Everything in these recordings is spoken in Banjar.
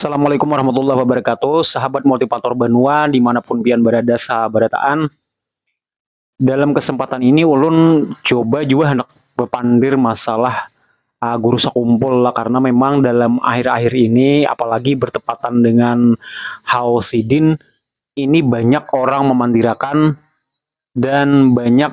Assalamualaikum warahmatullahi wabarakatuh Sahabat Multipator Banua dimanapun pian berada sabarataan Dalam kesempatan ini ulun coba jua hendak bepandir masalah uh, guru sakumpul lah Karena memang dalam akhir-akhir ini apalagi bertepatan dengan haul sidin Ini banyak orang memandirakan dan banyak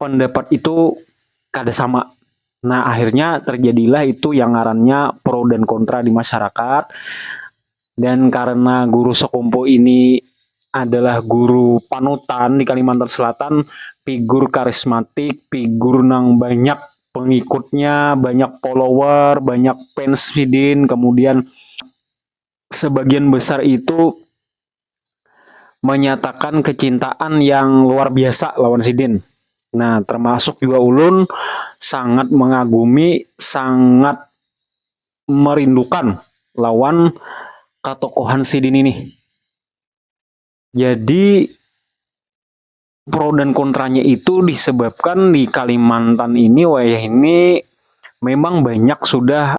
pendapat itu kada sama. Nah, akhirnya terjadilah itu yang ngarannya pro dan kontra di masyarakat. Dan karena guru sekumpu ini adalah guru panutan di Kalimantan Selatan, figur karismatik, figur nang banyak pengikutnya, banyak follower, banyak fans sidin, kemudian sebagian besar itu menyatakan kecintaan yang luar biasa lawan sidin. Nah, termasuk juga ulun sangat mengagumi, sangat merindukan lawan katokohan sidin ini. Jadi pro dan kontranya itu disebabkan di Kalimantan ini wayah ini memang banyak sudah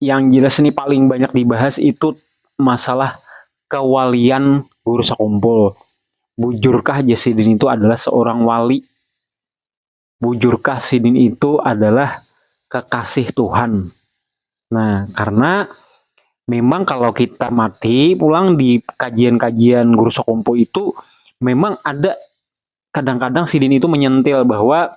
yang jelas nih paling banyak dibahas itu masalah kewalian Guru Sakumpul. Bujurkah jas sidin itu adalah seorang wali? Bujurkah sidin itu adalah kekasih Tuhan? Nah, karena memang kalau kita mati pulang di kajian-kajian Guru Sakumpul itu memang ada kadang-kadang sidin itu menyentil bahwa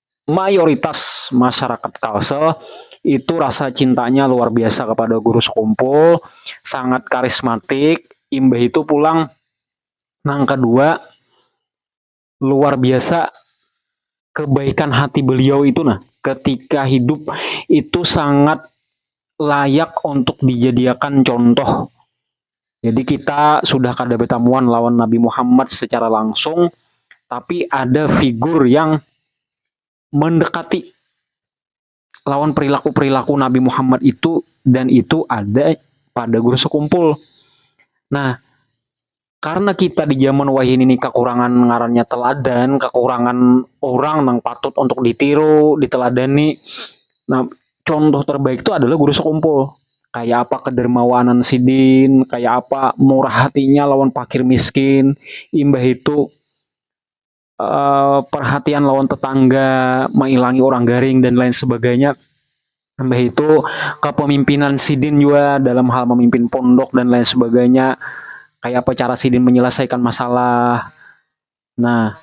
mayoritas masyarakat Kalsel itu rasa cintanya luar biasa kepada guru sekumpul, sangat karismatik, imbah itu pulang nang kedua luar biasa kebaikan hati beliau itu nah ketika hidup itu sangat layak untuk dijadiakan contoh. Jadi kita sudah kada bertamuan lawan Nabi Muhammad secara langsung, tapi ada figur yang mendekati lawan perilaku-perilaku Nabi Muhammad itu dan itu ada pada guru sekumpul. Nah, karena kita di zaman wahini ini kekurangan ngarannya teladan, kekurangan orang yang patut untuk ditiru, diteladani. Nah, contoh terbaik tu adalah guru sekumpul, kaya apa kedermawanan sidin, kaya apa murah hatinya lawan pakir miskin, imbah itu perhatian lawan tetangga, mailangi urang garing dan lain sebagainya, imbah itu kepemimpinan sidin jua dalam hal memimpin pondok dan lain sebagainya, kaya apa cara sidin menyelesaikan masalah. Nah,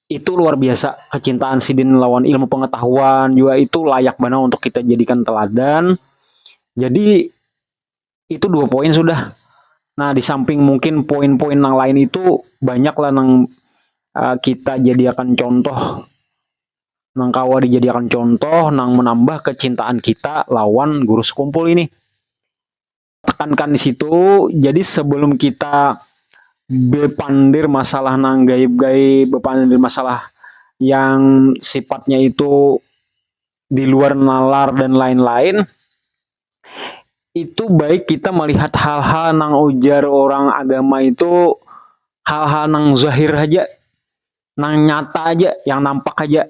itu luar biasa kecintaan sidin lawan ilmu pengetahuan juga itu layak banar untuk kita jadikan teladan. Jadi itu dua poin sudah. Nah, di samping mungkin poin-poin yang lain itu banyak lah nang uh, kita jadikan contoh nang kawa dijadikan contoh nang menambah kecintaan kita lawan guru sekumpul ini. tekankan di situ jadi sebelum kita bepandir masalah nang gaib-gaib bepandir masalah yang sifatnya itu di luar nalar dan lain-lain itu baik kita melihat hal-hal nang ujar orang agama itu hal-hal nang zahir haja nang nyata haja yang nampak haja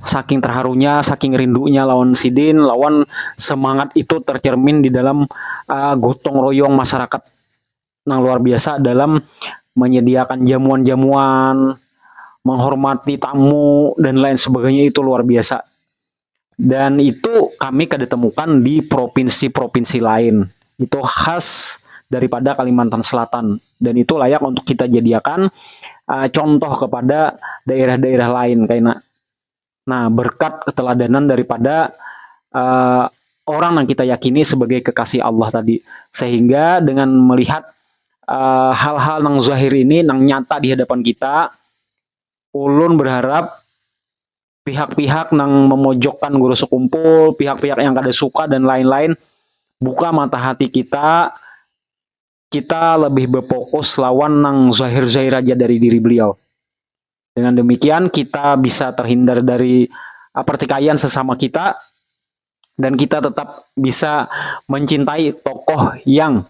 saking terharunya, saking rindunya lawan sidin, lawan semangat itu tercermin di dalam uh, gotong royong masyarakat nang luar biasa dalam menyediakan jamuan-jamuan, menghormati tamu dan lain sebagainya itu luar biasa. dan itu kami kada temukan di provinsi-provinsi lain itu khas daripada Kalimantan Selatan dan itu layak untuk kita jadiakan uh, contoh kepada daerah-daerah lain kaina nah berkat keteladanan daripada uh, orang yang kita yakini sebagai kekasih Allah tadi sehingga dengan melihat eh, hal-hal uh, nang zahir ini nang nyata di hadapan kita ulun berharap pihak-pihak nang memojokkan guru sekumpul, pihak-pihak yang kada suka dan lain-lain. Buka mata hati kita, kita lebih berfokus lawan nang zahir-zahir aja dari diri beliau. Dengan demikian kita bisa terhindar dari ah, pertikaian sesama kita dan kita tetap bisa mencintai tokoh yang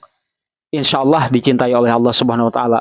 insya Allah dicintai oleh Allah Subhanahu Wa Taala.